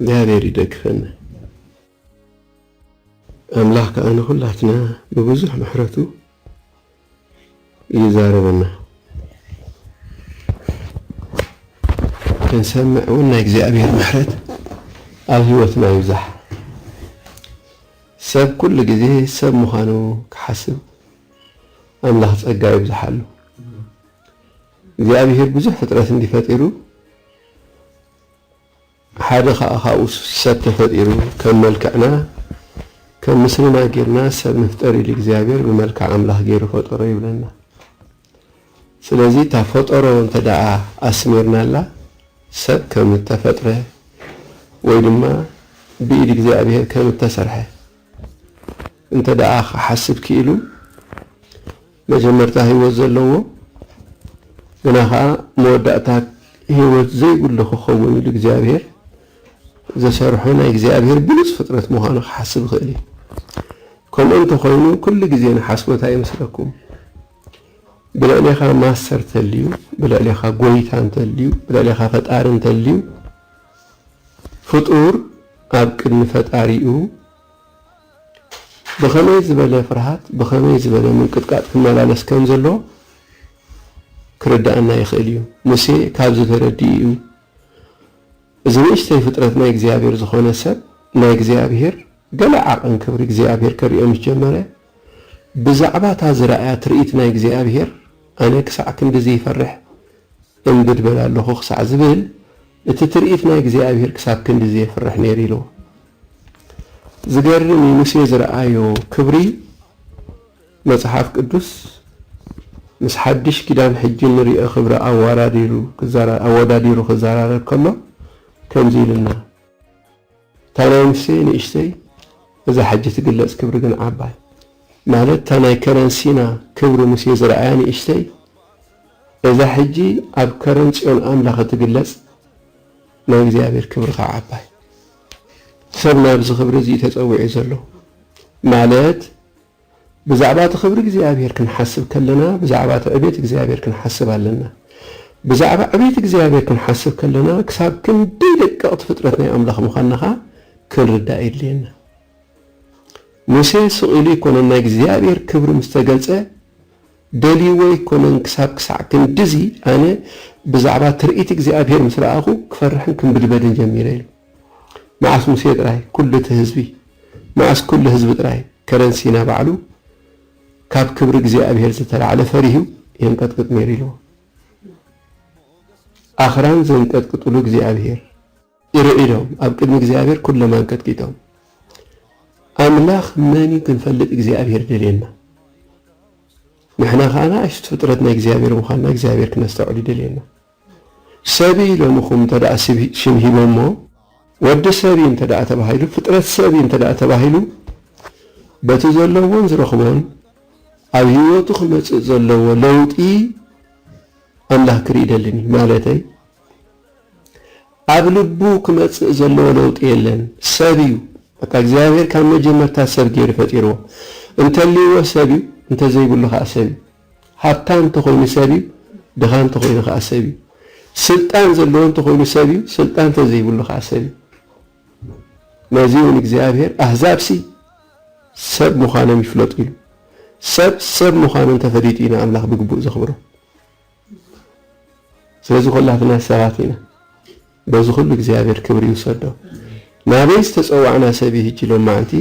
እግዚኣብሔር ይደግፈና ኣምላኽ ከዓ ንኹላትና ብብዙሕ ምሕረቱ ይዛረበና ክንሰምዕ እውን ናይ እግዚኣብሔር ምሕረት ኣብ ህይወትና ይብዛሕ ሰብ ኩሉ ግዜ ሰብ ምዃኑ ክሓስብ ኣምላኽ ጸጋ ይብዝሓሉ እግዚኣብሄር ብዙሕ ፍጥረት እንድዩ ፈጢሩ ሓደ ከኣ ካብኡ ሰብ ተፈጢሩ ከም መልክዕና ከም ምስልና ጌርና ሰብ ንፍጠር ኢሉ እግዚኣብሄር ብመልክዕ ኣምላኽ ጌሩ ፈጠሮ ይብለና ስለዚ እታ ፈጠሮ እንተ ደኣ ኣስሚርናላ ሰብ ከም እተፈጥረ ወይ ድማ ብኢድ እግዚኣብሄር ከም እተሰርሐ እንተ ደኣ ክሓስብ ክኢሉ መጀመርታ ህይወት ዘለዎ ግና ኸኣ መወዳእታ ህይወት ዘይብሉ ክኸውን ኢሉ እግዚኣብሄር ዝሰርሖ ናይ እግዚኣብሄር ብሉጽ ፍጥረት ምዃኑ ክሓስብ ይኽእል እዩ። ከምኡ እንተኾይኑ ኩሉ ግዜ ንሓስቦት ኣይመስለኩም። ብልዕሌኻ ማስተር እንተልዩ፣ ብልዕሌኻ ጎይታ እንተልዩ፣ ብልዕሌኻ ፈጣሪ እንተልዩ ፍጡር ኣብ ቅድሚ ፈጣሪኡ ብኸመይ ዝበለ ፍርሃት፣ ብኸመይ ዝበለ ምንቅጥቃጥ ክመላለስ ከም ዘለዎ ክርድኣና ይኽእል እዩ። ሙሴ ካብዚ ተረዲኡ እዩ እዚ ንእሽተይ ፍጥረት ናይ እግዚኣብሔር ዝኾነ ሰብ ናይ እግዚኣብሔር ገለ ዓቐን ክብሪ እግዚኣብሔር ከርእዮ ምስ ጀመረ ብዛዕባ እታ ዝረኣያ ትርኢት ናይ እግዚኣብሔር ኣነ ክሳዕ ክንድዚ ይፈርሕ እምቢ ድበል ኣሎኹ ክሳዕ ዝብል እቲ ትርኢት ናይ እግዚኣብሔር ክሳብ ክንድዚ የፍርሕ ነይሩ ኢልዎ። ዝገርም እዩ ሙሴ ዝረኣዮ ክብሪ መጽሓፍ ቅዱስ ምስ ሓድሽ ኪዳን ሕጂ እንርእዮ ክብሪ ኣዋራዲሩ ክዘራ ኣወዳዲሩ ክዘራረብ ከሎ ከምዚ ኢሉና። ታናይንሲ ንእሽተይ እዛ ሕጂ ትግለጽ ክብሪ ግን ዓባይ ማለት እታ ናይ ከረን ሲና ክብሪ ምስ የዝርኣያ ንእሽተይ እዛ ሕጂ ኣብ ከረን ጽዮን ኣምላኽ እትግለጽ ናይ እግዚኣብሔር ክብሪ ከኣ ዓባይ ሰብ ናብዚ ክብሪ እዚ እዩ ተጸዊዑ ዘሎ ማለት ብዛዕባ እቲ ክብሪ እግዚኣብሔር ክንሓስብ ከለና ብዛዕባ እቲ ዕቤት እግዚኣብሔር ክንሓስብ ኣለና። ብዛዕባ ዕቤት እግዚኣብሔር ክንሓስብ ከለና ክሳብ ክንደይ ደቀቕቲ ፍጥረት ናይ ኣምላኽ ምዃንና ኸኣ ክንርዳእ የድልየና። ሙሴ ስቕ ኢሉ ኣይኮነን ናይ እግዚኣብሔር ክብሪ ምስ ተገልጸ ደልይዎ ኣይኮነን ክሳብ ክሳዕ ክንድዚ ኣነ ብዛዕባ ትርኢት እግዚኣብሔር ምስ ረኣኹ ክፈርሕን ክንብድበድን ጀሚረ ኢሉ። መዓስ ሙሴ ጥራይ ኩሉ እቲ ህዝቢ መዓስ ኩሉ ህዝቢ ጥራይ ከረን ሲና ባዕሉ ካብ ክብሪ እግዚኣብሄር ዝተላዕለ ፈሪሁ የንቀጥቅጥ ነይሩ ኢልዎ ኣኽራን ዘንቀጥቅጥሉ እግዚኣብሄር ርዒዶም ኣብ ቅድሚ እግዚኣብሄር ኩሎም ኣንቀጥቂጦም ኣምላኽ መን እዩ ክንፈልጥ እግዚኣብሄር ደልየና ንሕና ከኣ ንኣሽቱ ፍጥረት ናይ እግዚኣብሄር ምዃንና እግዚኣብሄር ክነስተውዕል ይደልየና ሰብ እዩ ኢሎምኹም እንተደኣ ሽም ሂቦሞ፣ ወዲ ሰብ እዩ እንተደኣ ተባሂሉ፣ ፍጥረት ሰብ እዩ እንተደኣ ተባሂሉ፣ በቲ ዘለዎን ዝረኽቦን ኣብ ህይወቱ ክመጽእ ዘለዎ ለውጢ ኣምላኽ ክርኢ ይደልን እዩ። ማለተይ ኣብ ልቡ ክመጽእ ዘለዎ ለውጢ የለን። ሰብ እዩ በቃ እግዚኣብሔር ካብ መጀመርታ ሰብ ገይሩ ፈጢርዎ። እንተልይዎ ሰብ እዩ፣ እንተዘይብሉ ከኣ ሰብ እዩ። ሃብታም እንተኾይኑ ሰብ እዩ፣ ድኻ እንተኾይኑ ከኣ ሰብ እዩ። ስልጣን ዘለዎ እንተኾይኑ ሰብ እዩ፣ ስልጣን እንተዘይብሉ ከኣ ሰብ እዩ። ነዚ'ውን እግዚኣብሔር ኣህዛብሲ ሰብ ምዃኖም ይፍለጡ ኢሉ። ሰብ ሰብ ምዃኑ እንተፈሊጡ እዩ ንኣምላኽ ብግቡእ ዘኽብሮ። ስለዚ ኰላትና ሰባት ኢና። በዚ ኹሉ እግዚኣብሔር ክብሪ ይውሰዶ። ናበይ ዝተጸዋዕና ሰብ እዩ ህጂ ሎማዕንቲ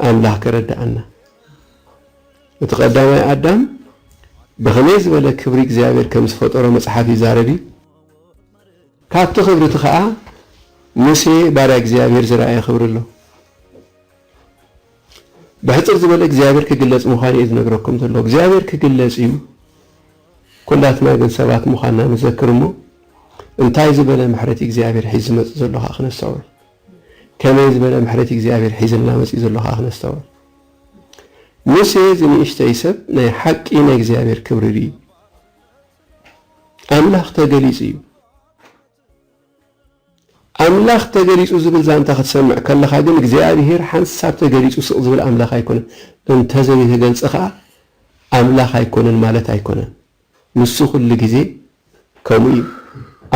ኣምላኽ ከረድኣና። እቲ ቀዳማይ ኣዳም ብኸመይ ዝበለ ክብሪ እግዚኣብሔር ከም ዝፈጠሮ መጽሓፍ ይዛረብ እዩ። ካብቲ ክብሪ እቲ ኸኣ ሙሴ ባርያ እግዚኣብሔር ዝረኣዮ ክብሪ ኣሎ። ብሕጽር ዝበለ እግዚኣብሔር ክግለጽ ምዃኑ እዩ ዝነግረኩም ዘሎ። እግዚኣብሔር ክግለጽ እዩ። ኩላትና ግን ሰባት ምዃንና ንዘክር እሞ እንታይ ዝበለ ምሕረት እግዚኣብሔር ሒዝ ዝመጽእ ዘሎ ኸኣ ክነስተውዕል። ከመይ ዝበለ ምሕረት እግዚኣብሔር ሒዝልና መጽኡ ዘሎ ኸኣ ክነስተውዕል። ሙሴ እዚ ንእሽተይ ሰብ ናይ ሓቂ ናይ እግዚኣብሔር ክብሪ ርእዩ። ኣምላኽ ተገሊጹ እዩ። ኣምላኽ ተገሊጹ ዝብል ዛንታ ክትሰምዕ ከለኻ ግን እግዚኣብሔር ሓንሳብ ተገሊጹ ስቕ ዝብል ኣምላኽ ኣይኮነን። እንተዘይተገልጸ ከኣ ኣምላኽ ኣይኮነን ማለት ኣይኮነን። ንሱ ኩሉ ግዜ ከምኡ እዩ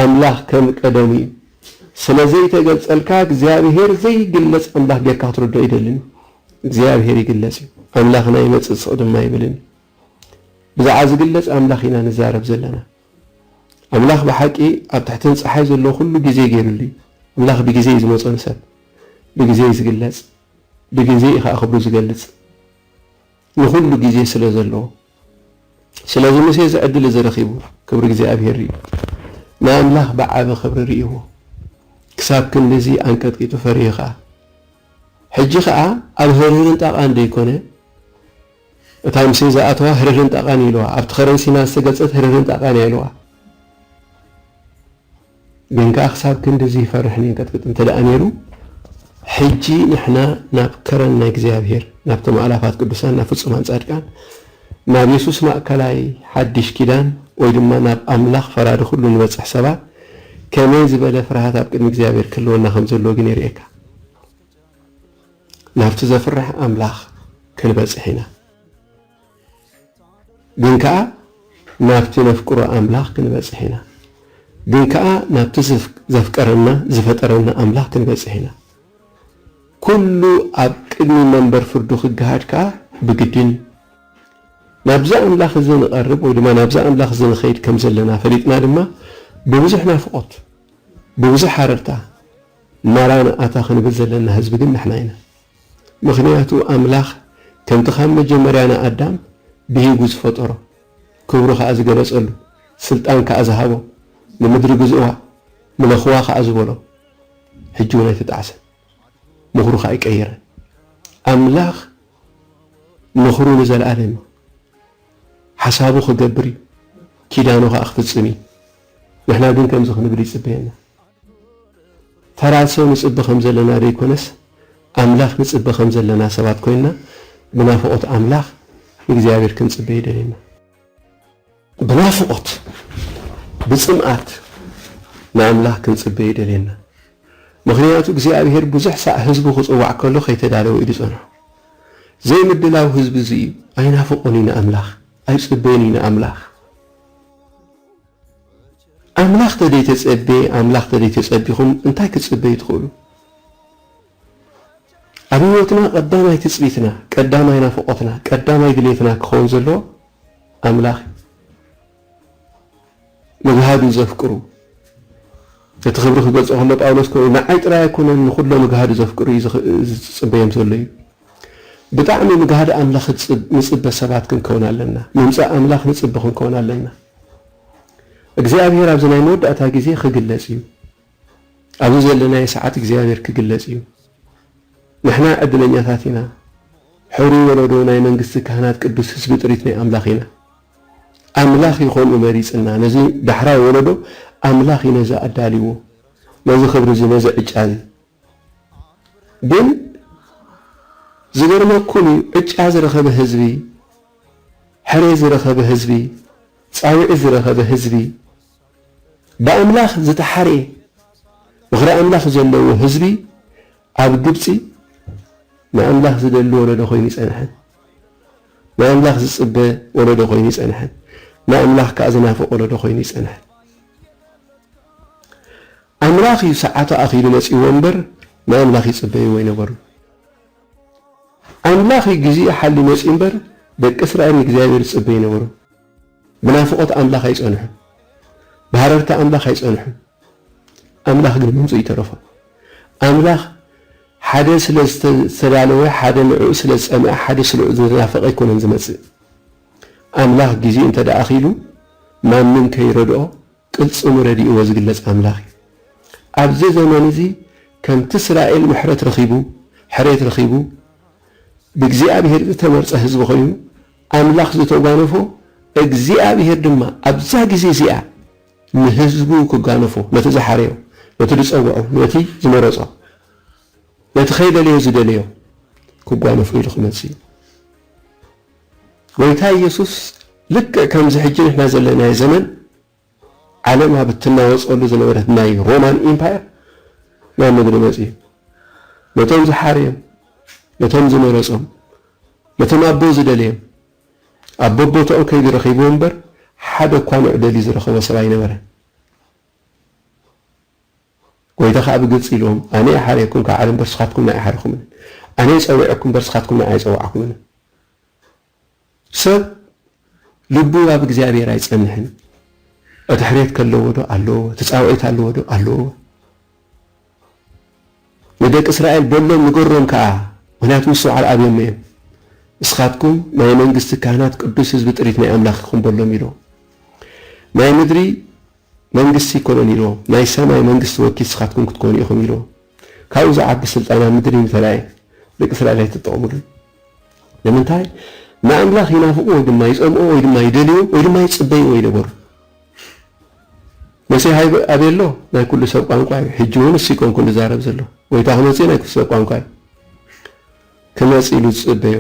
ኣምላኽ ከም ቀደሙ እዩ ስለ ዘይተገልጸልካ እግዚኣብሄር ዘይግለጽ ኣምላኽ ጌርካ ክትርድኦ ኣይደልን እዩ እግዚኣብሄር ይግለጽ እዩ ኣምላኽና ይመጽእ ስቕ ድማ ኣይብልን እዩ ብዛዕባ ዝግለጽ ኣምላኽ ኢና ንዛረብ ዘለና ኣምላኽ ብሓቂ ኣብ ትሕትን ጸሓይ ዘሎ ኩሉ ግዜ ገይርሉ እዩ ኣምላኽ ብግዜ እዩ ዝመጾ ንሰብ ብግዜ እዩ ዝግለጽ ብግዜ እዩ ከዓ ክብሩ ዝገልጽ ንኹሉ ግዜ ስለ ዘለዎ ስለዚ ሙሴ እዚ ዕድል እዚ ረኺቡ ክብሪ እግዚኣብሄር ርእዩ። ንኣምላኽ ብዓቢ ክብሪ ርእይዎ። ክሳብ ክንድዚ ኣንቀጥቂጡ ፈርዩ ኸኣ። ሕጂ ኸኣ ኣብ ህርህርን ጣቓን ደይኰነ እታ ሙሴ ዝኣተዋ ህርህርን ጣቓን እዩ ኢልዋ። ኣብቲ ኸረን ሲና ዝተገልጸት ህርህርን ጣቓን እያ ኢልዋ። ግን ከኣ ክሳብ ክንድዚ ይፈርሕን ይንቀጥቅጥን እንተደኣ ነይሩ፣ ሕጂ ንሕና ናብ ከረን ናይ እግዚኣብሔር፣ ናብቶም ኣእላፋት ቅዱሳን፣ ናብ ፍጹማን ጻድቃን፣ ናብ የሱስ ማእከላይ ሓዲሽ ኪዳን ወይ ድማ ናብ ኣምላኽ ፈራዲ ኩሉ ንበጽሕ ሰባት ከመይ ዝበለ ፍርሃት ኣብ ቅድሚ እግዚኣብሔር ክህልወና ከም ዘለዎ ግን የርእየካ። ናብቲ ዘፍርሕ ኣምላኽ ክንበጽሕ ኢና። ግን ከኣ ናብቲ ነፍቅሮ ኣምላኽ ክንበጽሕ ኢና። ግን ከኣ ናብቲ ዘፍቀረና ዝፈጠረና ኣምላኽ ክንበጽሕ ኢና። ኩሉ ኣብ ቅድሚ መንበር ፍርዱ ክገሃድ ከኣ ብግድን እዩ። ናብዚ ኣምላኽ እዚ ንቐርብ ወይ ድማ ናብዚ ኣምላኽ እዚ ንኸይድ ከም ዘለና ፈሊጥና ድማ ብብዙሕ ናፍቖት ብብዙሕ ሃረርታ ማራናኣታ ክንብል ዘለና ህዝቢ ግን ንሕና ኢና። ምኽንያቱ ኣምላኽ ከምቲ ካብ መጀመርያ ንኣዳም ብሂጉ ዝፈጠሮ፣ ክብሩ ከኣ ዝገለጸሉ፣ ስልጣን ከኣ ዝሃቦ፣ ንምድሪ ግዝእዋ፣ ምለኽዋ ከኣ ዝበሎ፣ ሕጂ ውን ኣይተጣዕሰን፣ ምኽሩ ከኣ ኣይቀየረን። ኣምላኽ ምኽሩ ንዘልኣለም እዩ፣ ሓሳቡ ክገብር እዩ፣ ኪዳኑ ከኣ ክፍጽም እዩ። ንሕና ግን ከምዚ ክንብል ይጽበየና። ተራሶ ንጽበ ከም ዘለና ዘይኮነስ ኣምላኽ ንጽበ ከም ዘለና ሰባት ኮይንና ብናፍቖት ኣምላኽ ንእግዚኣብሔር ክንጽበ ይደልየና። ብናፍቖት ብጽምኣት ንኣምላኽ ክንጽበ ይደልየና። ምኽንያቱ እግዚኣብሔር ብዙሕ ሳዕ ህዝቡ ክጽዋዕ ከሎ ከይተዳለወ እዩ ዝጸንሖ። ዘይምድላው ህዝቢ እዚ እዩ። ኣይናፍቆን እዩ ንኣምላኽ። ኣይጽበይን እዩ ንኣምላኽ። ኣምላኽ ተደይተጸቤ ኣምላኽ ተደይተጸቢኹም እንታይ ክትጽበዩ ትኽእሉ? ኣብ ሕይወትና ቀዳማይ ትጽቢትና፣ ቀዳማይ ናፍቖትና፣ ቀዳማይ ድሌትና ክኸውን ዘለዎ ኣምላኽ እዩ። ንጋህዱ ዘፍቅሩ፣ እቲ ክብሪ ክገልጾ ከሎ ጳውሎስ ኮይኑ ንዓይ ጥራይ ኣይኮነን ንኹሎም እግሃዱ ዘፍቅሩ እዩ ዝጽበዮም ዘሎ እዩ። ብጣዕሚ ንግሃድ ኣምላኽ ንጽበ ሰባት ክንከውን ኣለና። ምምጻእ ኣምላኽ ንጽበ ክንከውን ኣለና። እግዚኣብሄር ኣብዚ ናይ መወዳእታ ግዜ ክግለጽ እዩ። ኣብዚ ዘለናዮ ሰዓት እግዚኣብሄር ክግለጽ እዩ። ንሕና ዕድለኛታት ኢና። ሕሩይ ወለዶ ናይ መንግስቲ ካህናት ቅዱስ ህዝቢ ጥሪት ናይ ኣምላኽ ኢና። ኣምላኽ እዩ ከምኡ መሪጽና ነዚ ዳሕራይ ወለዶ ኣምላኽ እዩ ነዚ ኣዳልይዎ ነዚ ክብሪ እዚ ነዚ ዕጫ እዚ ግን ዝገርመኩም እዩ ዕጫ ዝረኸበ ህዝቢ ሕሬ ዝረኸበ ህዝቢ ጻዊዒት ዝረኸበ ህዝቢ ብኣምላኽ ዝተሓርየ ምኽሪ ኣምላኽ ዘለዎ ህዝቢ ኣብ ግብጺ ንኣምላኽ ዝደሊ ወለዶ ኮይኑ ጸንሐ። ንኣምላኽ ዝጽበ ወለዶ ኮይኑ ጸንሐ። ንኣምላኽ ከኣ ዝናፍቕ ወለዶ ኮይኑ እዩ ጸንሐ። ኣምላኽ እዩ ሰዓቱ ኣኺሉ መጺእዎ እምበር ንኣምላኽ ይጽበይዎ ኣይነበሩን። ኣምላኽ እዩ ግዜኡ ሓልዩ መጺኡ እምበር ደቂ እስራኤል ንእግዚኣብሔር ይጽበዩ ነበሩ። ብናፍቖት ኣምላኽ ኣይጸንሑን፣ ብሃረርታ ኣምላኽ ኣይጸንሑን፣ ኣምላኽ ግን ምምጽኡ ይተረፎ። ኣምላኽ ሓደ ስለ ዝተዳለወ፣ ሓደ ንዕኡ ስለ ዝጸምኣ፣ ሓደ ስለ ዝናፈቐ ኣይኮነን ዝመጽእ። ኣምላኽ ግዜ እንተ ደኣ ኣኺሉ ማንም ከይረድኦ ቅልጽሙ ረዲእዎ ዝግለጽ ኣምላኽ እዩ። ኣብዚ ዘመን እዚ ከምቲ እስራኤል ምሕረት ረኺቡ፣ ሕሬት ረኺቡ፣ ብእግዚኣብሄር ዝተመርጸ ህዝቢ ኮይኑ፣ ኣምላኽ ዝተጓነፎ፣ እግዚኣብሄር ድማ ኣብዛ ግዜ እዚኣ ንህዝቡ ክጋነፎ፣ ነቲ ዝሓረዮ፣ ነቲ ዝጸውዖ፣ ነቲ ዝመረጾ፣ ነቲ ከይደለዮ ዝደለዮ ክጓነፎ ኢሉ ክመጽእ እዩ። ጎይታ ኢየሱስ ልክዕ ከምዚ ሕጂ ንሕና ዘለናዮ ዘመን ዓለም ኣብ እትናወጸሉ ዝነበረት ናይ ሮማን ኢምፓየር ናብ ምድሪ መጺኡ ነቶም ዝሓርዮም ነቶም ዝመረጾም ነቶም ኣቦ ዝደለዮም ኣብ በቦታኡ ከይዱ ረኺብዎ እምበር ሓደ እኳ መዕደሊ ዝረኸቦ ሰብ ኣይነበረን። ጎይታ ከኣ ብግልጺ ኢልዎም ኣነ እየ ሓርየኩም ካብ ዓለም እምበር ስኻትኩም ንኣይ ሓርኹምንን ኣነ እየ ጸዊዐኩም እምበር ስኻትኩም ንኣይ ኣይጸዋዕኩምንን ሰብ ልቡ ኣብ እግዚኣብሔር ኣይጸንሕን እቲ ሕሬት ከለዎ ዶ ኣለዎ ትጻውዒት ኣለዎ ዶ ኣለዎ ንደቂ እስራኤል በሎም ንገሮም ከኣ ምክንያቱ ምስትውዓል ኣብዮም እዮም እስኻትኩም ናይ መንግስቲ ካህናት ቅዱስ ህዝቢ ጥሪት ናይ ኣምላኽ ኢኹም በሎም ኢሎ ናይ ምድሪ መንግስቲ ኣይኮነን ኢሎ ናይ ሰማይ መንግስቲ ወኪል ስካትኩም ክትኮኑ ኢኩም ኢሎ ካብኡ ዝዓቢ ስልጣን ኣብ ምድሪ ምተራእየ ደቂ እስራኤል ኣይትጠቀሙሉን ንምንታይ ንኣምላክ ይናፍቁ ወይ ድማ ይጸምኦ ወይ ድማ ይደልዮ ወይ ድማ ይጽበይዎ ይነበሩ መሲሕ ኣበይ ኣሎ ናይ ኩሉ ሰብ ቋንቋ እዩ ሕጂ እውን እሱ ይኮንኩን ዝዛረብ ዘሎ ጎይታ ክመጽእ ናይ ኩሉ ሰብ ቋንቋ እዩ ክመጽእ ኢሉ ዝጽበዮ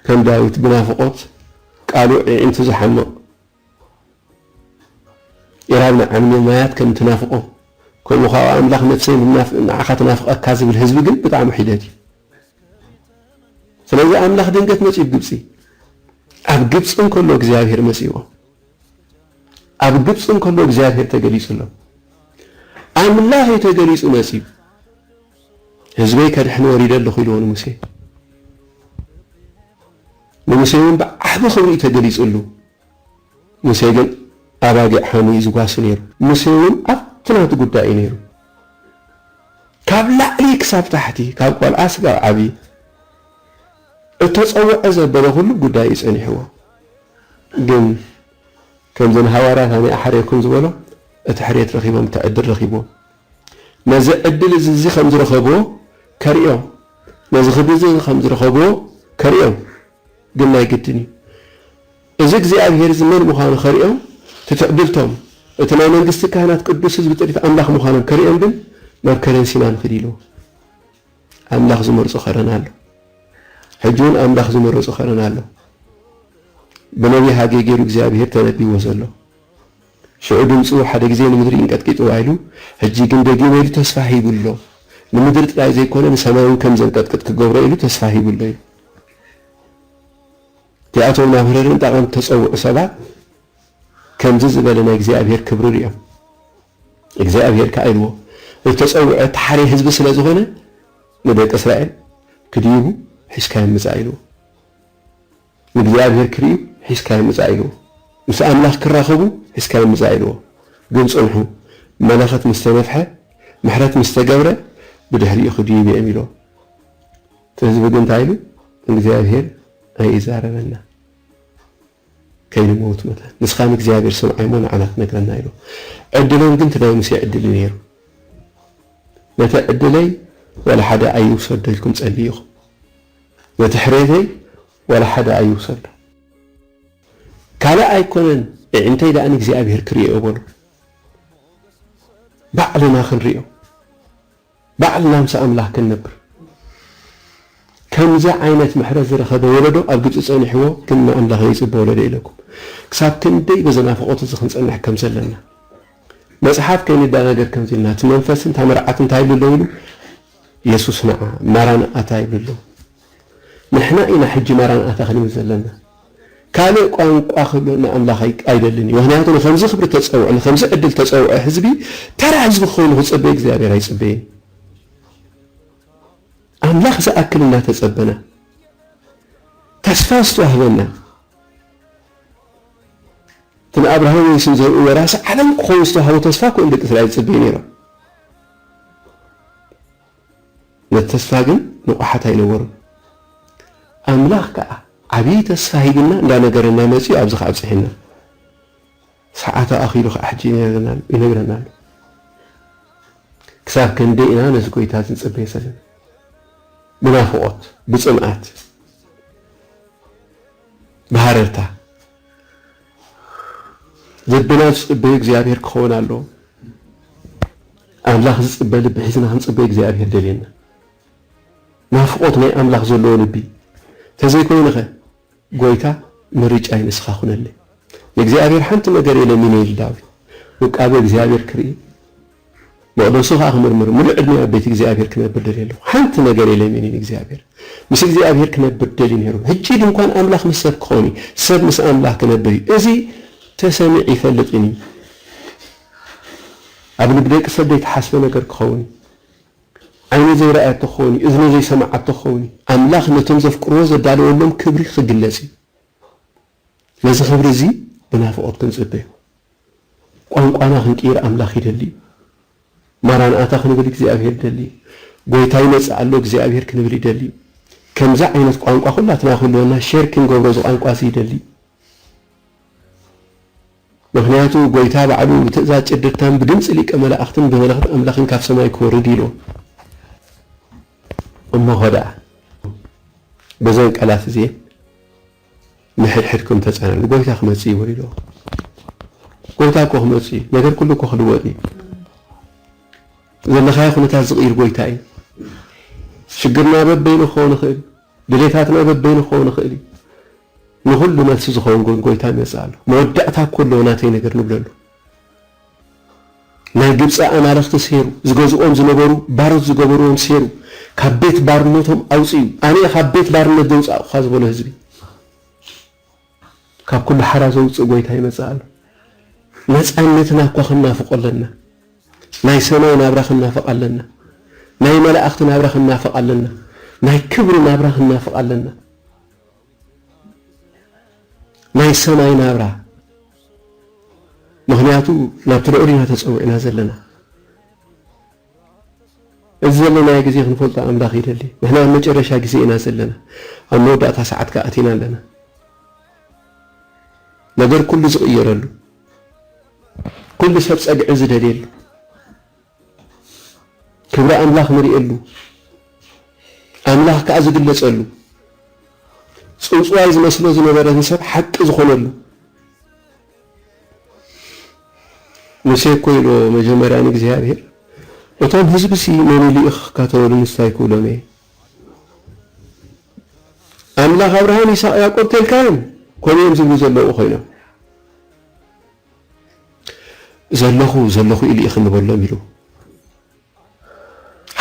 ከም ዳዊት ብናፍቆት ቃሉ ዒዒንቱ ዝሓምቕ ኢራብ ንዓምኒ ማያት ከም ትናፍቆ ከምኡ ካኣ ኣምላኽ ነፍሰይ ንዓኻ ትናፍቀካ ዝብል ህዝቢ ግን ብጣዕሚ ሒደት እዩ። ስለዚ ኣምላኽ ድንገት መጺኡ ኣብ ግብጺ ኣብ ግብጺ እንከሎ እግዚኣብሄር መጺዎ ኣብ ግብጺ እንከሎ እግዚኣብሄር ተገሊጹ ኣሎ። ኣምላኽ እዩ ተገሊጹ መጺኡ ህዝበይ ከድሕን ወሪደ ኣለኹ ኢልዎ ንሙሴ። ንሙሴ እውን ብዓቢ ክብሪ'ዩ ተገሊጹሉ። ሙሴ ግን ኣባጊዕ ሓምዩ'ዩ ዝጓሲ ነይሩ። ሙሴ እውን ኣብቲ ናቱ ጉዳይ'ዩ ነይሩ። ካብ ላዕሊ ክሳብ ታሕቲ፣ ካብ ቆልዓ ስጋብ ዓቢ፣ እተጸውዐ ዘበለ ኩሉ ጉዳይ'ዩ ጸኒሕዎ። ግን ከምዚ ንሃዋርያት ኣነ እሓርየኩም ዝበሎም እቲ ሕርየት ረኺቦም እቲ ዕድል ረኺቦም። ነዚ ዕድል እዚ እዚ ከም ዝረኸብዎ ከርእዮም ነዚ ክብሪ እዚ እዚ ከም ዝረኸብዎ ከርእዮም ግን ናይ ግድን እዩ እዚ እግዚኣብሄር እዚ መን ምዃኑ ከርእዮም ትትዕድልቶም እቲ ናይ መንግስቲ ካህናት ቅዱስ ህዝቢ ጥሪት ኣምላኽ ምዃኖም ከርእዮም ግን ናብ ከረን ሲና ንኺድ ኢልዎ ኣምላኽ ዝመርጾ ከረን ኣሎ ሕጂ እውን ኣምላኽ ዝመረጾ ከረን ኣሎ ብነቢይ ሃጌ ገይሩ እግዚኣብሄር ተነቢዎ ዘሎ ሽዑ ድምጹ ሓደ ግዜ ንምድሪ እንቀጥቂጥዋ ኢሉ ሕጂ ግን ደጊመ ኢሉ ተስፋ ሂቡ ኣሎ። ንምድሪ ጥራይ ዘይኮነ ንሰማይ'ውን ከም ዘንቀጥቅጥ ክገብሮ ኢሉ ተስፋ ሂቡ ኣሎ ኢሉ። እቲኣቶም ናብ ህረርን ጣቓን እተጸውዑ ሰባት ከምዚ ዝበለ ናይ እግዚኣብሄር ክብሪ ርእዮም። እግዚኣብሄር ከኣ ኢልዎ እተጸውዐ ተሓርየ ህዝቢ ስለ ዝኾነ ንደቂ እስራኤል ክድይቡ ሒዝካዮም ምጻእ ኢልዎ። ንእግዚኣብሔር ክርእዩ ሒዝካዮም ምጻእ ኢልዎ። ምስ ኣምላኽ ክራኸቡ ሒዝካዮም ምጻእ ኢልዎ። ግን ጽንሑ፣ መለኸት ምስ ተነፍሐ፣ ምሕረት ምስ ተገብረ፣ ብድሕሪኡ ክድዩ ይብየም ኢልዎ። እቲ ህዝቢ ግን እንታይ ኢሉ? እግዚኣብሔር ኣይእዛረበና ከይንመውት መታን፣ ንስኻ ንእግዚኣብሔር ስምዓይ እሞ ንዓና ክነግረና ኢልዎ። ዕድሎም ግን እቲ ናይ ሙሴ ዕድል እዩ ነይሩ። ነቲ ዕድለይ ዋላ ሓደ ኣይውሰዶ ኢልኩም ጸልዩ ኢኹም። ነቲ ሕሬተይ ዋላ ሓደ ኣይውሰዶ ካልእ ኣይኮነን እዒንተይ ደኣ ንእግዚኣብሄር ክርእዮ በሉ ባዕልና ክንርእዮ ባዕልና ምስ ኣምላኽ ክንነብር ከምዚ ዓይነት ምሕረት ዝረኸበ ወለዶ ኣብ ግብጺ ጸኒሕዎ ግን ንኣምላኽ ዘይጽበ ወለዶ ኢለኩም ክሳብ ክንደይ በዚ ናፍቖት እዚ ክንጸንሕ ከም ዘለና መጽሓፍ ከይንደናገር ከምዚ ኢልና እቲ መንፈስን እታ መርዓትን እንታይ ኢሉ ኣሎ ኢሉ የሱስ ንዓ ማራንኣታ ይብል ኣሎ። ንሕና ኢና ሕጂ ማራንኣታ ክንብል ዘለና። ካልእ ቋንቋ ክብሎ ንኣምላኽ ኣይደልን እዩ። ምኽንያቱ ንኸምዚ ክብሪ እተጸውዐ፣ ንኸምዚ ዕድል እተጸውዐ ህዝቢ፣ ተራ ህዝቢ ክኸውን ንኽጽበ እግዚኣብሄር ኣይጽበይን። ኣምላኽ ዝኣክል እናተጸበና፣ ተስፋ ዝተዋህበና፣ እቲ ንኣብርሃምን የሱስን ዘርኡ ወራሲ ዓለም ክኸውን ዝተዋህቦ ተስፋ እኮ እዮም ደቂ እስራኤል ዝጽበዩ ነይሮም። ነቲ ተስፋ ግን ንቑሓት ኣይነበሩን። ኣምላኽ ከኣ ዓብዪ ተስፋ ሂቡና እንዳነገረና መጺኡ ኣብዚ ከኣ ኣብጺሑና። ሰዓቱ ኣኺሉ ከኣ ሕጂ ይነግረና ኣሎ። ክሳብ ክንደይ ኢና ነዚ ጎይታ እዚ ንጽበዮ ዘለና? ብናፍቖት፣ ብጽምኣት፣ ብሃረርታ። ልብና ዝፅበ እግዚኣብሔር ክኸውን ኣለዎ። ኣምላኽ ዝፅበ ልቢ ሒዝና ክንፅበ እግዚኣብሔር ደልየና። ናፍቆት ናይ ኣምላኽ ዘለዎ ልቢ ተዘይኮይንኸ ጎይታ ምርጫይ ንስኻ ኩነለይ ንእግዚኣብሔር ሓንቲ ነገር እየ ለሚነይል ዳዊት ውቃበ እግዚኣብሔር ክርኢ መቕደሱ ኸኣ ክምርምር፣ ምሉእ ዕድመይ ኣብ ቤት እግዚኣብሄር ክነብር ደልየ ኣሎኹ፣ ሓንቲ ነገር የለይምን ኢሉ እግዚኣብሄር። ምስ እግዚኣብሄር ክነብር ደልዩ ነይሩ። ህጂ ድንኳን ኣምላኽ ምስ ሰብ ክኸውን እዩ፣ ሰብ ምስ ኣምላኽ ክነብር እዩ። እዚ ተሰሚዕ ይፈልጥን እዩ። ኣብ ልቢ ደቂ ሰብ ዘይተሓስበ ነገር ክኸውን እዩ። ዓይኒ ዘይረኣየቶ ክኸውን እዩ፣ እዝኒ ዘይሰምዓቶ ክኸውን እዩ። ኣምላኽ ነቶም ዘፍቅርዎ ዘዳለወሎም ክብሪ ክግለጽ እዩ። ነዚ ክብሪ እዚ ብናፍቖት ክንጽበዮ ቋንቋና ክንቅይር ኣምላኽ ይደሊ እዩ። ማራንኣታ ክንብል እግዚኣብሄር ይደሊ እዩ። ጎይታ ይመጽእ ኣሎ እግዚኣብሄር ክንብል ይደሊ እዩ። ከምዚ ዓይነት ቋንቋ ኩላትና ክህልወና ሼር ክንገብሮ እዚ ቋንቋ እዚ ይደሊ እዩ። ምክንያቱ ጎይታ ባዕሉ ብትእዛዝ ጭድርታን ብድምጺ ሊቀ መላእኽትን ብመለኸት ኣምላኽን ካብ ሰማይ ክወርድ ኢሉ እሞኸ ደኣ በዘን ቃላት እዚኤን ንሕድሕድኩም ተጸናንዑ ጎይታ ክመጽእ እዩ ወሊዶ ጎይታ እኮ ክመጽእ እዩ ነገር ኩሉ እኮ ክልወጥ እዩ ዘለኻዮ ኩነታት ዝቕይር ጎይታ እዩ ሽግርና በበይኑ ክኸውን ይኽእል እዩ ድሌታትና በበይኑ ክኸውን ይኽእል እዩ ንኹሉ መልሲ ዝኸውን ጎን ጎይታ ይመጽእ ኣሎ መወዳእታ እኮ ኣለዎ ናተይ ነገር ንብለሉ ናይ ግብጺ ኣማልኽቲ ሰይሩ፣ ዝገዝእዎም ዝነበሩ ባሮት ዝገበርዎም ሰይሩ፣ ካብ ቤት ባርነቶም ኣውጺኡ፣ ኣነ'የ ካብ ቤት ባርነት ዘውጻእኩኻ ዝበሎ ህዝቢ፣ ካብ ኩሉ ሓራ ዘውጽእ ጎይታ ይመጽእ ኣሎ። ነጻነትና እኳ ክንናፍቆ ኣለና። ናይ ሰማይ ናብራ ክንናፍቕ ኣለና። ናይ መላእኽቲ ናብራ ክንናፍቕ ኣለና። ናይ ክብሪ ናብራ ክንናፍቕ ኣለና። ናይ ሰማይ ናብራ ምክንያቱ ናብቲ ልዑል ኢና ተጸዊዕና ዘለና እዚ ዘለናዮ ግዜ ክንፈልጦ ኣምላኽ ይደሊ ንሕና ኣብ መጨረሻ ግዜ ኢና ዘለና ኣብ መወዳእታ ሰዓት ከኣ ኣቲና ኣለና ነገር ኩሉ ዝቕየረሉ ኩሉ ሰብ ጸግዒ ዝደልየሉ ክብሪ ኣምላኽ ንርእየሉ፣ ኣምላኽ ከኣ ዝግለጸሉ፣ ጽውጽዋይ ዝመስሎ ዝነበረ ንሰብ ሓቂ ዝኾነሉ። ሙሴ እኮ ኢሎ መጀመርያ ንእግዚኣብሔር እቶም ህዝብሲ መን ኢሉ ኢኺ ክካተወሉ ንስታይ ክብሎም እየ ኣምላኽ ኣብርሃም ይስሐቅ ያዕቆብ ተልካዮም ከምኡ እዮም ዝብሉ ዘለዉ ኮይኖም ዘለኹ ዘለኹ ኢሉ ኢኺ ንበሎም ኢሉ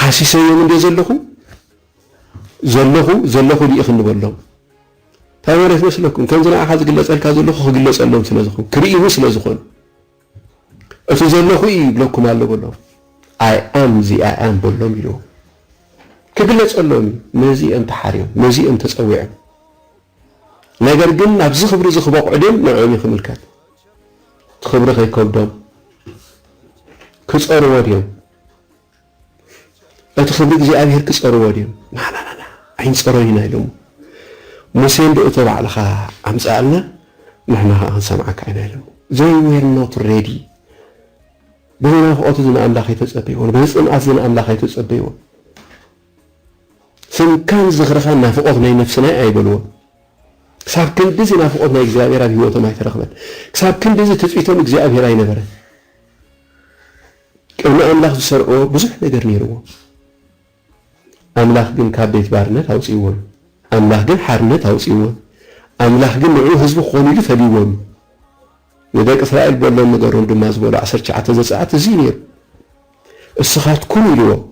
ሓሲሰዮም እንደ ዘለኹ ዘለኹ ዘለኹ ኢሉ ኢኺ ንበሎም እንታይ ማለት ይመስለኩም? ከምዚ ንዓኻ ዝግለጸልካ ዘለኹ ክግለጸሎም ስለ ዝኾን ክርእይኒ ስለ ዝኾን እቲ ዘለኹ እዩ ይብለኩም ኣሎ በሎም። ኣይ ኣም እዚ ኣይ ኣም በሎም ኢልዎም ክግለጸሎም እዩ። ነዚ እዮም ተሓርዮም፣ ነዚ እዮም ተጸዊዖም። ነገር ግን ናብዚ ክብሪ እዚ ክበቕዑ ድዮም ንዕኦም እዩ ክምልከት። እቲ ክብሪ ከይከብዶም ክጸርዎ ድዮም? እቲ ክብሪ እግዚኣብሔር ክጸርዎ ድዮም? ናናናና ኣይንጸሮን ኢና ኢሎሞ። ሙሴ እንዶ እቶ ባዕልኻ ኣምጽኣልና ንሕና ከኣ ክንሰምዓካ ኢና ኢሎሞ። They were not ready በዚ ናፍቆት እዚ ንኣምላኽ ኣይተጸበይዎን። በዚ ጽምኣት እዚ ንኣምላኽ ኣይተጸበይዎን። ስምካን ዝኽርኻን ናፍቖት ናይ ነፍስና'ዩ ኣይበልዎን። ክሳብ ክንድዚ ናፍቖት ናይ እግዚኣብሄር ኣብ ህይወቶም ኣይተረኽበን። ክሳብ ክንድዚ ትጽቢቶም እግዚኣብሄር ኣይነበረን። ቅድሚ ኣምላኽ ዝሰርዕዎ ብዙሕ ነገር ነይርዎም። ኣምላኽ ግን ካብ ቤት ባርነት ኣውጺእዎም'ዩ። ኣምላኽ ግን ሓርነት ኣውጺእዎም'ዩ። ኣምላኽ ግን ንዕኡ ህዝቢ ክኾኑ ኢሉ ፈልይዎም'ዩ። ንደቂ እስራኤል በሎም ንገሮም ድማ ዝበሎ ዓሰርተ ትሽዓተ ዘጸኣት እዚ'ዩ ነይሩ። እስኻትኩም ኢልዎም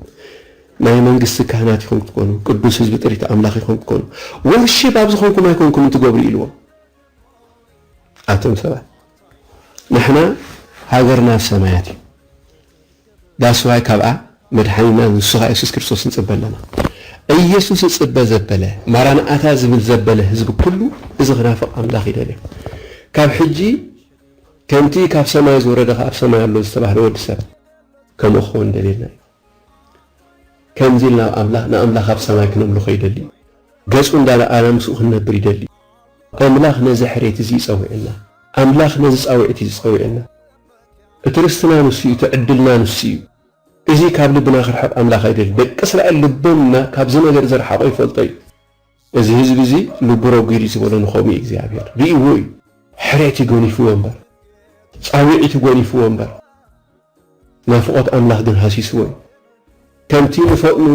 ናይ መንግስቲ ካህናት ኢኹም ክትኮኑ፣ ቅዱስ ህዝቢ ጥሪት ኣምላኽ ኢኹም ክትኮኑ፣ ወርሺፕ ኣብ ዝኾንኩም ኣይኮንኩምን ትገብሩ ኢልዎም። ኣቶም ሰባት ንሕና ሃገርና ኣብ ሰማያት እዩ ዳስዋይ ካብኣ መድሓኒና ንሱኻ የሱስ ክርስቶስ ንጽበ ኣለና። ኢየሱስ እጽበ ዘበለ ማራንኣታ ዝብል ዘበለ ህዝቢ ኩሉ እዚ ክናፍቕ ኣምላኽ ይደልዮ። ካብ ሕጂ ከምቲ ካብ ሰማይ ዝወረደ ከኣ ኣብ ሰማይ ኣሎ ዝተባህለ ወዲ ሰብ ከምኡ ክኸውን ደልየልና እዩ። ከምዚ ኢልና ኣብ ኣምላኽ ንኣምላኽ ኣብ ሰማይ ክነምልኾ ይደሊ እዩ። ገጹ እንዳረኣና ምስኡ ክንነብር ይደሊ እዩ። ኣምላኽ ነዚ ሕሬት እዚ እዩ ጸዊዑና። ኣምላኽ ነዚ ጻዊዕት እዩ ጸዊዑና። እቲ ርስትና ንሱ እዩ፣ እቲ ዕድልና ንሱ እዩ። እዚ ካብ ልብና ክርሕቕ ኣምላኽ ኣይደልን። ደቂ እስራኤል ልቦም እና ካብዚ ነገር ዘርሓቖ ይፈልጦ እዩ። እዚ ህዝቢ እዚ ልቡ ረጒድ እዩ ዝበሎ ንኸምኡ እዩ እግዚኣብሔር ሪእዎ እዩ ሕሬት እዩ ጎኒፍዎ እምበር ጻዊዒት ጎኒፍዎ እምበር ናፍቆት ኣምላኽ ግን ሃሲስዎ እዩ ከምቲ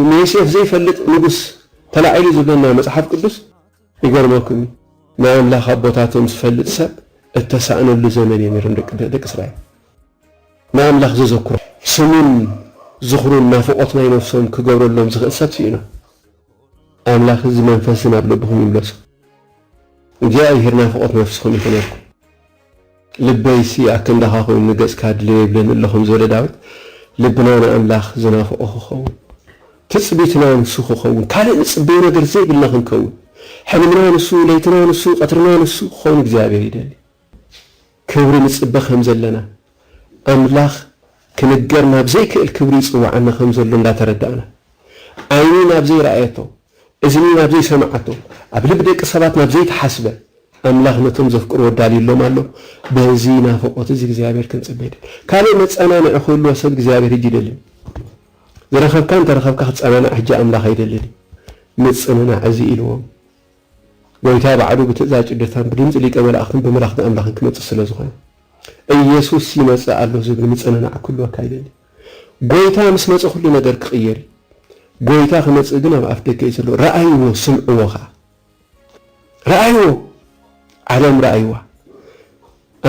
ንዮሴፍ ዘይፈልጥ ንጉስ ተላዒሉ ዝብለና መጽሓፍ ቅዱስ ይገርመኩም እዩ ናይ ኣምላኽ ኣቦታቶም ዝፈልጥ ሰብ እተሳእነሉ ዘመን እዩ ነይሮም ደቂ እስራኤል ንኣምላኽ ዘዘኩሮ ስሙን ዝኽሩን ናፍቆት ናይ ነፍሶም ክገብረሎም ዝኽእል ሰብ ስኢኖም ኣምላክ እዚ መንፈስ እዚ ናብ ልብኩም ይምለሶ እግዚኣብሄር ናፍቆት ነፍስኩም ይኩነልኩም ልበይሲ ኣክንዳካ ኮይኑ ንገጽካ ድልየ ይብለኒ ኣሎ ከም ዝበለ ዳዊት ልብና ንኣምላክ ዝናፍቆ ክከውን ትጽቢትና ንሱ ክከውን ካልእ ንጽበዮ ነገር ዘይብልና ክንከውን ሕልምና ንሱ ለይትና ንሱ ቀትርና ንሱ ክከውን እግዚኣብሄር ይደሊ። ክብሪ ንጽበ ከም ዘለና፣ ኣምላኽ ክንገር ናብ ዘይክእል ክብሪ ይጽውዓና ከም ዘሎ እንዳ ተረዳእና፣ ዓይኒ ናብ ዘይረኣየቶ፣ እዝኒ ናብ ዘይሰምዓቶ፣ ኣብ ልቢ ደቂ ሰባት ናብ ዘይተሓስበ፣ ኣምላኽ ነቶም ዘፍቅርዎ ኣዳልዩሎም ኣሎ። በዚ ናፍቖት እዚ እግዚኣብሔር ክንጽበ ይደሊ። ካልእ መጸናንዒ ክህልዎ ሰብ እግዚኣብሔር ሕጂ ይደልን እዩ። ዝረኸብካ እንተ ረኸብካ ክትጸናናዕ ሕጂ ኣምላኽ ኣይደልን እዩ። ምጽንናዕ እዚ ኢልዎም። ጐይታ ባዕሉ ብትእዛዝ ጭድርታን ብድምጺ ሊቀ መላእኽትን ብምልኣኽቲ ኣምላኽን ክመጽእ ስለ ዝኾነ፣ ኢየሱስ ይመጽእ ኣሎ ዝብል ምጽንናዕ ክህልወካ ይደሊ። ጐይታ ምስ መጸ ኩሉ ነገር ክቕየር እዩ። ጐይታ ክመጽእ ግን ኣብ ኣፍ ደገ እዩ ዘሎ። ርኣይዎ ስምዕዎ ከኣ። ርኣይዎ! ዓለም ርኣይዋ።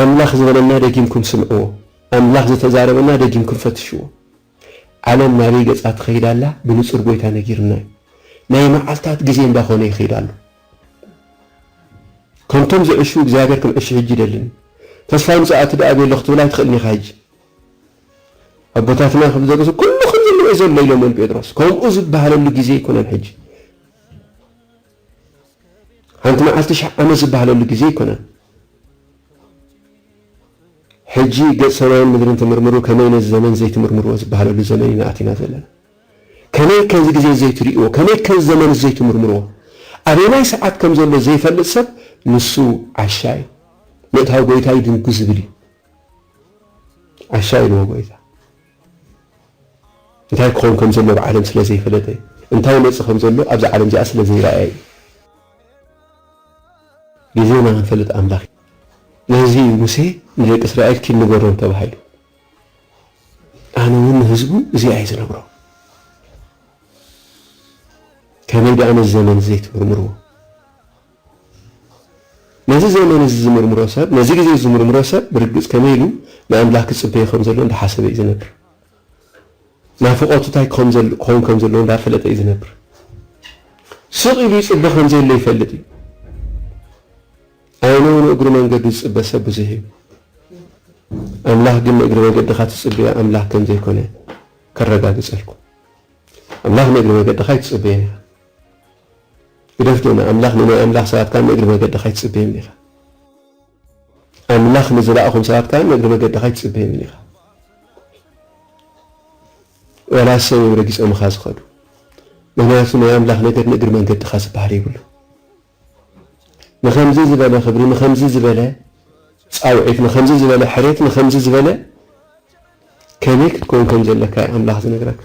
ኣምላኽ ዝበለና ደጊምኩም ስምዕዎ። ኣምላኽ ዝተዛረበና ደጊምኩም ፈትሽዎ። ዓለም ናበይ ገጻ ትኸይድ ኣላ ብንጹር ጎይታ ነጊሩና እዩ ናይ መዓልታት ግዜ እንዳ ኮነ ይኺድ ኣሎ ከምቶም ዝዕሹ እግዚኣብሔር ክንዕሹ ሕጂ ይደልን ተስፋ ምጽኣት ድኣ ቤሎ ክትብል ኣይትኽእልን ኢኻ ሕጂ ኣቦታትና ከም ዘገሱ ኩሉ ከም ዘለዎ ዘሎ ኢሎሞን ጴጥሮስ ከምኡ ዝበሃለሉ ግዜ ኣይኮነን ሕጂ ሓንቲ መዓልቲ ሽሕ ዓመት ዝበሃለሉ ግዜ ኣይኮነን። ሕጂ ገጽ ሰማይን ምድርን ትምርምሩ ከመይ ነዚ ዘመን ዘይትምርምርዎ ዝበሃለሉ ዘመን ኢና ኣቲና ዘለና። ከመይ ከዚ ግዜ ዘይትርእይዎ ከመይ ከዚ ዘመንስ ዘይትምርምርዎ። ኣበየናይ ሰዓት ከም ዘሎ ዘይፈልጥ ሰብ ንሱ ዓሻ እዩ። ምእታው ጎይታ ይድንጉ ዝብል እዩ። ዓሻ ኢልዎ ጎይታ። እንታይ ክኸውን ከም ዘለዎ ኣብ ዓለም ስለ ዘይፈለጠ፣ እንታይ ይመጽእ ከም ዘሎ ኣብዛ ዓለም እዚኣ ስለ ዘይረኣየ እዩ። ግዜና ክንፈልጥ ኣምላኽ ነዚ እዩ ሙሴ ንደቂ እስራኤል ኪድ ንገሮም ተባሂሉ። ኣነ እውን ንህዝቡ እዚኣ እዩ ዝነግሮ። ከመይ ደኣ ነዚ ዘመን ዘይትምርምርዎ? ነዚ ዘመን እዚ ዝምርምሮ ሰብ፣ ነዚ ግዜ እዚ ዝምርምሮ ሰብ፣ ብርግጽ ከመይ ኢሉ ንኣምላኽ ክጽበዮ ከም ዘለዎ እንዳ ሓሰበ እዩ ዝነብር። ናፍቖቱ እንታይ ክኸውን ከም ዘለዎ እንዳ ፈለጠ እዩ ዝነብር። ስቕ ኢሉ ይጽበ ከም ዘየለ ይፈልጥ እዩ። ኣይነ እውን እግሩ መንገዱ ዝጽበ ሰብ ብዙሕ እዩ። ኣምላኽ ግን ንእግሪ መገድኻ ትጽበዮ ኣምላኽ ከም ዘይኮነ ከረጋግጸልኩም። ኣምላኽ ንእግሪ መገድኻ ኣይትጽበዮን ኢኻ። ግደፍ ጌና ኣምላኽ ንናይ ኣምላኽ ሰባት ከኣ ንእግሪ መገድኻ ኣይትጽበዮምን ኢኻ ኣምላኽ ንዝላኣኾም ሰባት ከኣ ንእግሪ መገድኻ ኣይትጽበዮምን ኢኻ ወላ ሰብ እዮም ረጊጾምኻ ዝኸዱ ምክንያቱ ናይ ኣምላኽ ነገር ንእግሪ መንገድኻ ዝበሃል የብሉ ንኸምዚ ዝበለ ክብሪ፣ ንኸምዚ ዝበለ ጻውዒት፣ ንኸምዚ ዝበለ ሕሬት፣ ንኸምዚ ዝበለ ከመይ ክትከውን ከም ዘለካ እዩ ኣምላኽ ዝነግረካ።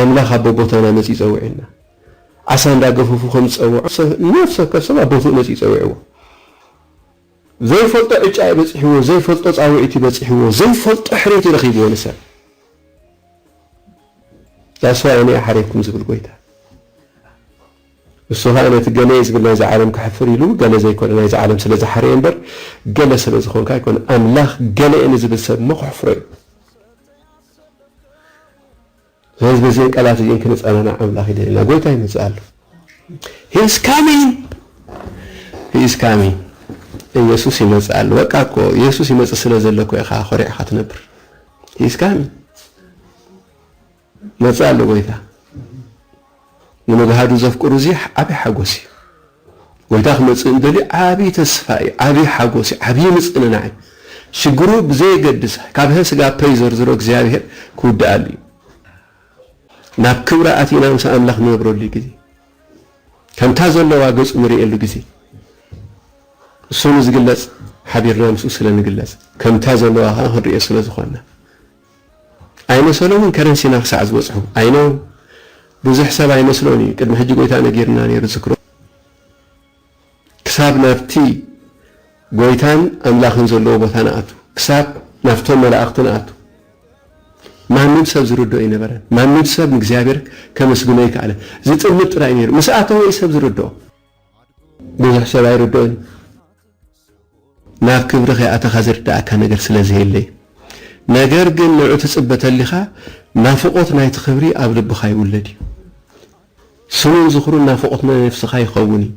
ኣምላኽ ኣብ ቦቦታና መጺኡ ጸዊዑና። ዓሳ እንዳገፈፉ ከም ዝጸውዑ ነፍሲ ወከፍ ሰብ ኣብ ቦትኡ መጺኡ ጸዊዕዎ። ዘይፈልጦ ዕጫ እዩ በጺሕዎ ዘይፈልጦ ጻውዒት እዩ በጺሕዎ ዘይፈልጦ ሕሬት እዩ ረኺብዎ ንሰብ That's why እኔ ኣሓሬኩም ዝብል ጎይታ ንሱ ኸኣ ነቲ ገሌ ዝብል ናይዛ ዓለም ከሕፍር ኢሉ ገለ ዘይኮነ ናይዛ ዓለም ስለ ዝሓረየ እምበር ገለ ስለ ዝኾንካ ኣይኮነ ኣምላኽ ገሌ ንዝብል ሰብ እሞ ከሕፍሮ እዩ ስለዚ በዘን ቃላት እዚኤን ክንጸናናዕ ኣምላኽ ይደልየና። ጎይታ ይመጽእ ኣሎ። He is coming! He is coming! ኢየሱስ ይመጽእ ኣሎ። በቃ እኮ ኢየሱስ ይመጽእ ስለ ዘሎ እኮ ኢኻ ኮሪዕካ ትነብር። He is coming! ይመጽእ ኣሎ ጎይታ። ንመግሃዱ ዘፍቅሩ እዚ ዓቢ ሓጎስ እዩ። ጎይታ ክመጽእ እንደልዩ ዓቢ ተስፋ እዩ፣ ዓቢ ሓጎስ እዩ፣ ዓቢ ምጽንናዕ እዩ። ሽግሩ ብዘየገድስ ካብ ሀ ስጋ ፐ ይዘርዝሮ እግዚኣብሔር ክውድኣሉ እዩ። ናብ ክብራ ኣቲና ምስ ኣምላኽ ንነብረሉ ግዜ ከምታ ዘለዋ ገጹ ንርእየሉ ግዜ እሱ ንዝግለጽ ሓቢርና ምስኡ ስለ ንግለጽ ከምታ ዘለዋ ከኣ ክንርእዮ ስለ ዝኾንና ኣይነ ሰሎምን ከረን ሲና ክሳዕ ዝበጽሑ ኣይነ ብዙሕ ሰብ ኣይመስሎን እዩ ቅድሚ ሕጂ ጎይታ ነጊርና ነይሩ ዝክሮ ክሳብ ናብቲ ጎይታን ኣምላክን ዘለዎ ቦታ ንኣቱ ክሳብ ናብቶም መላእክቲ ንኣቱ ማንም ሰብ ዝርድኦ ኣይነበረን። ማንም ሰብ ንእግዚኣብሔር ከመስግኖ ኣይከኣለን። ዝጥምት ጥራይ ነይሩ። ምስ ኣተወ እዩ ሰብ ዝርድኦ። ብዙሕ ሰብ ኣይርድኦን እዩ። ናብ ክብሪ ከይኣተኻ ዝርደኣካ ነገር ስለ ዘየለ እዩ። ነገር ግን ንዑ ትጽበ ተሊኻ ናፍቖት ናይቲ ክብሪ ኣብ ልብኻ ይውለድ እዩ። ስሙን ዝኽሩን ናፍቖት ነፍስኻ ይኸውን እዩ።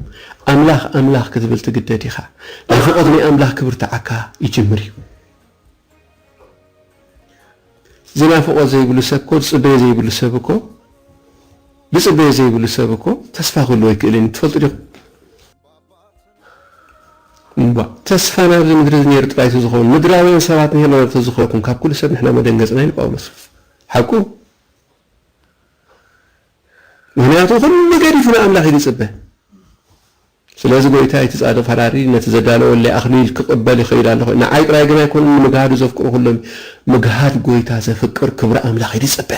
ኣምላኽ ኣምላኽ ክትብል ትግደድ ኢኻ። ናፍቖት ናይ ኣምላኽ ክብርታዓካ ይጅምር እዩ። እዚ ናፍቖት ዘይብሉ ሰብ እኮ ዝጽበዮ ዘይብሉ ሰብ እኮ ዝጽበዮ ዘይብሉ ሰብ እኮ ተስፋ ክህልዎ ኣይክእልን እዩ። ትፈልጡ ዲኹም? እባ ተስፋና ኣብዚ ምድሪ እዚ ነይሩ ጥራይ ተዝኸውን ምድራውያን ሰባት ንሔና ዶ ተዝኾንኩም ካብ ኩሉ ሰብ ንሕና መደንገጽና ኢሉ ጳውሎስ ሓቁ ምኽንያቱ ኩሉ ገዲፉ ንኣምላኽ እዩ ዝጽበ ስለዚ ጎይታይ እቲ ጻድቕ ፈራዲ ነቲ ዘዳለወለይ ኣኽሊል ክቕበል ይኸይድ ኣለኹ ንዓይ ጥራይ ግን ኣይኮነን ንምግሃዱ ዘፍቅሩ ኩሎም ምግሃድ ጎይታ ዘፍቅር ክብሪ ኣምላኽ እዩ ዝጽበ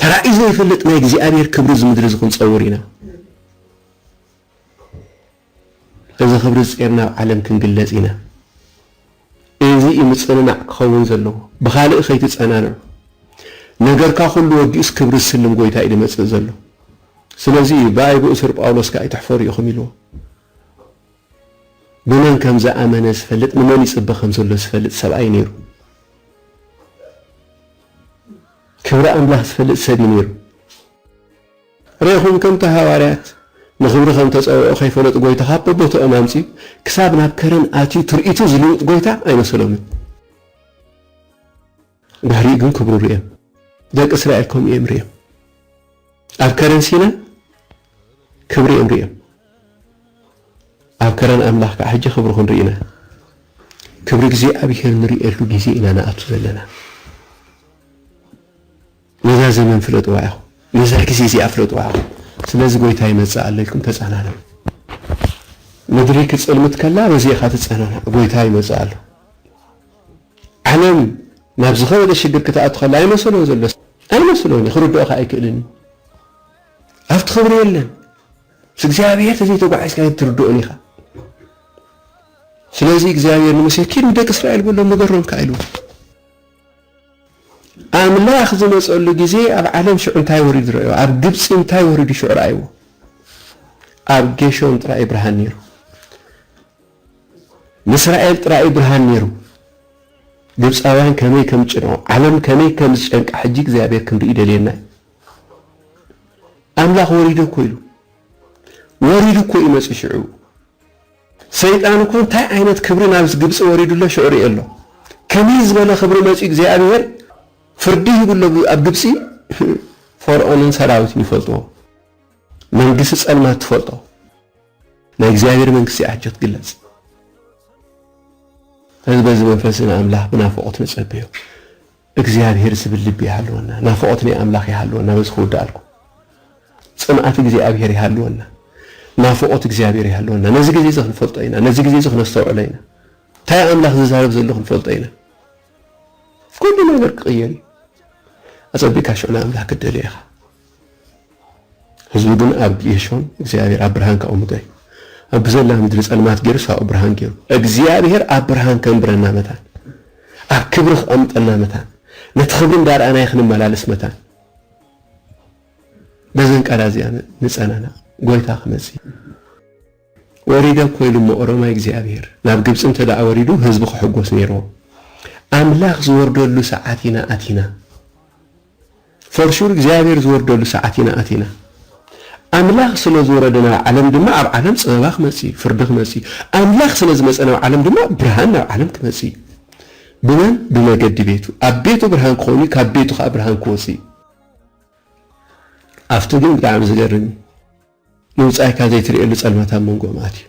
ተራእዩ ዘይፈልጥ ናይ እግዚኣብሔር ክብሪ እዚ ምድሪ እዚ ክንጸውር ኢና እዚ ክብሪ ጼርና ኣብ ዓለም ክንግለጽ ኢና። እዚ እዩ ምጽንናዕ ክኸውን ዘለዎ። ብኻልእ ከይትጸናንዑ። ነገርካ ኩሉ ወዲኡስ ክብሪ ዝስልም ጎይታ እዩ ዝመጽእ ዘሎ። ስለዚ እዩ ብኣይ ብእሱር ጳውሎስ ከኣ ኣይትሕፈሩ ኢኹም ኢልዎ። ብመን ከም ዝኣመነ ዝፈልጥ ንመን ይጽበ ከም ዘሎ ዝፈልጥ ሰብኣይ ነይሩ። ክብሪ ኣምላኽ ዝፈልጥ ሰብ እዩ ነይሩ። ርኤኹም ከምቲ ሃዋርያት ንኽብሪ ከም እተጸውዑ ከይፈለጡ ጐይታ ኻብ በቦታኦም ኣምጺኡ ክሳብ ናብ ከረን ኣትዩ ትርኢቱ ዝልውጥ ጐይታ ኣይመሰሎምን። ድሕሪኡ ግን ክብሩ ርእዮም። ደቂ እስራኤል ከምኡ እዮም ርእዮም። ኣብ ከረን ሲና ክብሪ እዮም ርእዮም። ኣብ ከረን ኣምላኽ ከዓ ሕጂ ክብሩ ክንርኢ ኢና። ክብሪ እግዚኣብሔር ንርእየሉ ግዜ ኢና ንኣቱ ዘለና። ነዛ ዘመን ፍለጥዋ ኢኹም፣ ነዛ ግዜ እዚኣ ፍለጥዋ ኢኹም፣ ስለዚ ጐይታ ይመጽእ ኣሎ ኢልኩም ተጸናንዑ። ምድሪ ክትጽልምት ከላ በዚ ኢኻ ትጸናናዕ፣ ጐይታ ይመጽእ ኣሎ። ዓለም ናብ ዝኸበደ ሽግር ክትኣቱ ከላ ኣይመሰሎን ዘሎ፣ ኣይመሰሎን እዩ፣ ክርድኦ ከኣ ኣይክእልን እዩ። ኣብቲ ክብሪ የለን፣ ምስ እግዚኣብሔር ተዘይተጓዒዝካ ኣይትርድኦን ኢኻ። ስለዚ እግዚኣብሔር ንሙሴ ኪድ ንደቂ እስራኤል በሎም ንገሮም ከኣ ኢልዎ። ኣምላኽ ዝመጸሉ ግዜ ኣብ ዓለም ሽዑ እንታይ ወሪዱ ረእይዎ ኣብ ግብጺ እንታይ ወሪዱ ሽዑ ረኣይዎ ኣብ ጌሾን ጥራይ እዩ ብርሃን ነይሩ ንእስራኤል ጥራይ እዩ ብርሃን ነይሩ ግብጻውያን ከመይ ከም ጭንዖ ዓለም ከመይ ከም ዝጨንቃ ሕጂ እግዚኣብሔር ክንርኢ ደልየና ኣምላኽ ወሪዱ እኮ ኢሉ ወሪዱ እኮ እዩ መጺ ሽዑ ሰይጣን እኮ እንታይ ዓይነት ክብሪ ናብ ግብጺ ወሪዱ ኣሎ ሽዑ ሪኦ ኣሎ ከመይ ዝበለ ክብሪ መጽዩ እግዚኣብሄር ፍርዲ ሂቡ ኣሎ ኣብ ግብጺ ፎርኦንን ሰራዊቱን ይፈልጥዎ መንግስቲ ጸልማት ትፈልጦ ናይ እግዚኣብሄር መንግስቲ ኣጆ ትግለጽ ስለዚ በዚ መንፈስ ንኣምላኽ ብናፍቆት ንጸብዮ እግዚኣብሔር ዝብል ልቢ ይሃልወና ናፍቆት ናይ ኣምላክ ይሃልወና በዚ ክውድኣልኩም ጽንኣት እግዚኣብሔር ይሃልወና ናፍቆት እግዚኣብሔር ይሃልወና ነዚ ግዜ እዚ ክንፈልጦ ኢና ነዚ ግዜ እዚ ክነስተውዕሎ ኢና እንታይ ኣምላክ ዝዛረብ ዘሎ ክንፈልጦ ኢና ኩሉ ነገር ክቅየር እዩ ኣጸቢቅካ ሽዑ ንኣምላክ ክትደልዮ ኢካ ህዝቢ ግን ኣብ ጌሾን እግዚኣብሔር ኣብ ብርሃን ካቐምጦ እዩ። ኣብ ብዘላ ምድሪ ጸልማት ጌሩ ሳኦ ብርሃን ጌሩ። እግዚኣብሔር ኣብ ብርሃን ከንብረና መታን ኣብ ክብሪ ክቐምጠና መታን ነቲ ክብሪ እንዳርኣናይ ክንመላለስ መታን በዘን ቃላ እዚኣ ንጸናና ጎይታ ክመጽእ ወሪደ እኮ ኢሉ እሞ ኦሮማይ እግዚኣብሔር ናብ ግብፂ እንተደኣ ወሪዱ ህዝቢ ክሕጎስ ነይርዎ ኣምላክ ዝወርደሉ ሰዓት ኢና ኣቲና ፎር ሹር እግዚኣብሔር ዝወርደሉ ሰዓት ኢና ኣቲና ኣምላክ ስለ ዝወረደ ናብ ዓለም ድማ ኣብ ዓለም ፅበባ ክመፅ እዩ ፍርዲ ክመፅ እዩ ኣምላክ ስለ ዝመፀ ናብ ዓለም ድማ ብርሃን ናብ ዓለም ክመፅ እዩ ብመን ብመገዲ ቤቱ ኣብ ቤቱ ብርሃን ክኾኑ ካብ ቤቱ ከዓ ብርሃን ክወፅ እዩ ኣብቲ ግን ብጣዕሚ ዝገርም እዩ ንብጻይካ ዘይትርእየሉ ጸልማት ኣብ መንጎኦም ኣትዩ፣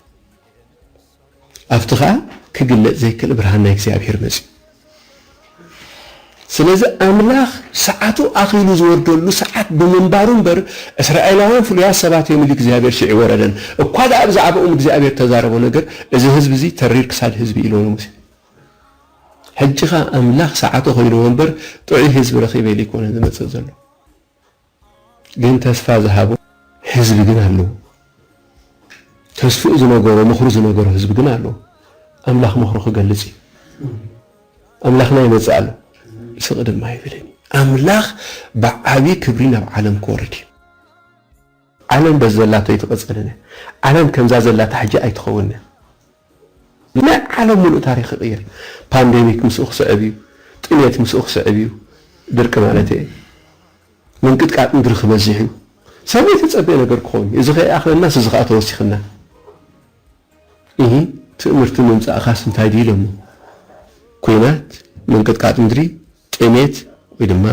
ኣብቲ ኸኣ ኪግለጽ ዘይክእል ብርሃን ናይ እግዚኣብሄር መጽዩ። ስለዚ ኣምላኽ ሰዓቱ ኣኺሉ ዝወርደሉ ሰዓት ብምንባሩ እምበር፣ እስራኤላውያን ፍሉያት ሰባት እዮም ኢሉ እግዚኣብሄር ሽዑ ኣይወረደን። እኳ ደኣ ብዛዕባኦም እግዚኣብሄር እተዛረቦ ነገር፣ እዚ ህዝቢ እዚ ተሪር ክሳድ ህዝቢ እዩ ኢልዎ ንሙሴ። ሕጂ ኸኣ ኣምላኽ ሰዓቱ ኣኺልዎ እምበር፣ ጥዑይ ህዝቢ ረኺበ ኢሉ ኣይኮነን ዝመጽእ ዘሎ። ግን ተስፋ ዝሃቦ ህዝቢ ግን ኣለዎ ተስፍኡ ዝነገሮ ምኽሩ ዝነገሮ ህዝቢ ግን ኣለዎ ኣምላኽ ምኽሩ ክገልጽ እዩ ኣምላኽና ይመጽእ ኣሎ ስቕ ድማ ኣይብልን እዩ ኣምላኽ ብዓቢ ክብሪ ናብ ዓለም ክወርድ እዩ ዓለም በዘላቶ ኣይትቐጸልን እያ ዓለም ከምዛ ዘላታ ሕጂ ኣይትኸውንን እያ ንናይ ዓለም ሙሉእ ታሪኽ ይቕይር። ፓንደሚክ ምስኡ ክስዕብ እዩ። ጥምየት ምስኡ ክስዕብ እዩ። ድርቂ ማለተይ እየ። ምንቅጥቃጥ ምድሪ ክበዝሕ እዩ። ሰብ ዘይተፀበየ ነገር ክኾን እዩ። እዚ ከይኣኽለናስ እዚ ከዓ ተወሲኽና። እሂ ትእምርቲ ምምፃእኻስ እንታይ ድዩ ኢሎሞ። ኩናት፣ ምንቅጥቃጥ ምድሪ፣ ጥሜት ወይ ድማ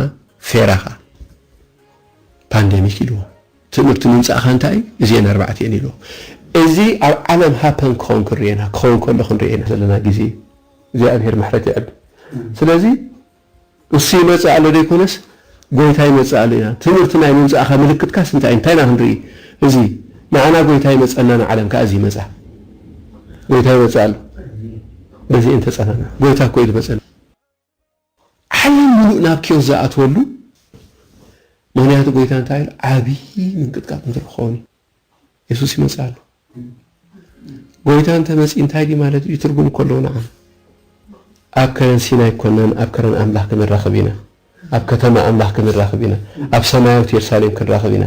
ፌራኻ ፓንደሚክ ኢልዎ። ትእምርቲ ምምጻእኻ እንታይ እዩ? እዚኤን ኣርባዕተ እየን ኢልዎ። እዚ ኣብ ዓለም ሃፐን ክኸውን ክንርእዮ ኢና፣ ክኸውን ከሎ ክንርእዮ ኢና ዘለና ግዜ እዩ። እግዚኣብሄር ምሕረት የዕቢ። ስለዚ እሱ ይመጽእ ኣሎ ዘይኮነስ ጎይታ ይመጽእ ኣሎ ኢና። ትእምርቲ ናይ ምምጻእኻ ምልክትካስ እንታይ እዩ? እንታይ ኢና ክንርኢ? እዚ ንዓና ጎይታ ይመጸና ንዓለም ከኣ እዚ ይመጻ። ጎይታ ይመጽእ ኣሎ። በዚ እየን ተጸናንዑ። ጎይታ እኮ እዩ ዝመጸና። ዓለም ምሉእ ናብ ኪዮስ ዝኣትወሉ ምኽንያቱ ጎይታ እንታይ ኢሉ ዓብዪ ምንቅጥቃጥ እንትርኾን እዩ የሱስ ይመጽእ ኣሎ ጎይታ እንተመጺእ እንታይ ድዩ ማለት እዩ ትርጉም እኮ ኣለዎ ንዓና ኣብ ከረን ሲና ኣይኮናን ኣብ ከረን ኣምላኽ ክንራኸብ ኢና ኣብ ከተማ ኣምላኽ ክንራኸብ ኢና ኣብ ሰማያዊት የሩሳሌም ክንራኸብ ኢና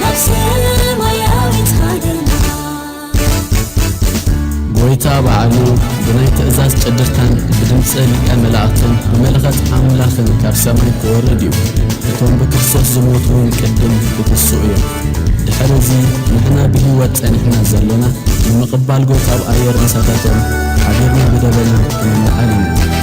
ናብ ሰማያዊት ሃገርና ጐይታ ባዕሉ ብናይ ትእዛዝ ጭድርታን ብድምጺ ሊቀ መላእክትን ብመለኸት ኣምላኽን ካብ ሰማይ ክወርድ እዩ። እቶም ብክርስቶስ ዝሞቱ እውን ቅድም ክትስኡ እዮም። ድሕሪ እዚ ንሕና ብህይወት ጸኒሕና ዘሎና ንምቕባል ጐይታ ኣብ ኣየር ምሳታቶም ሓቢርና ብደበና ክንለዓል ኢና።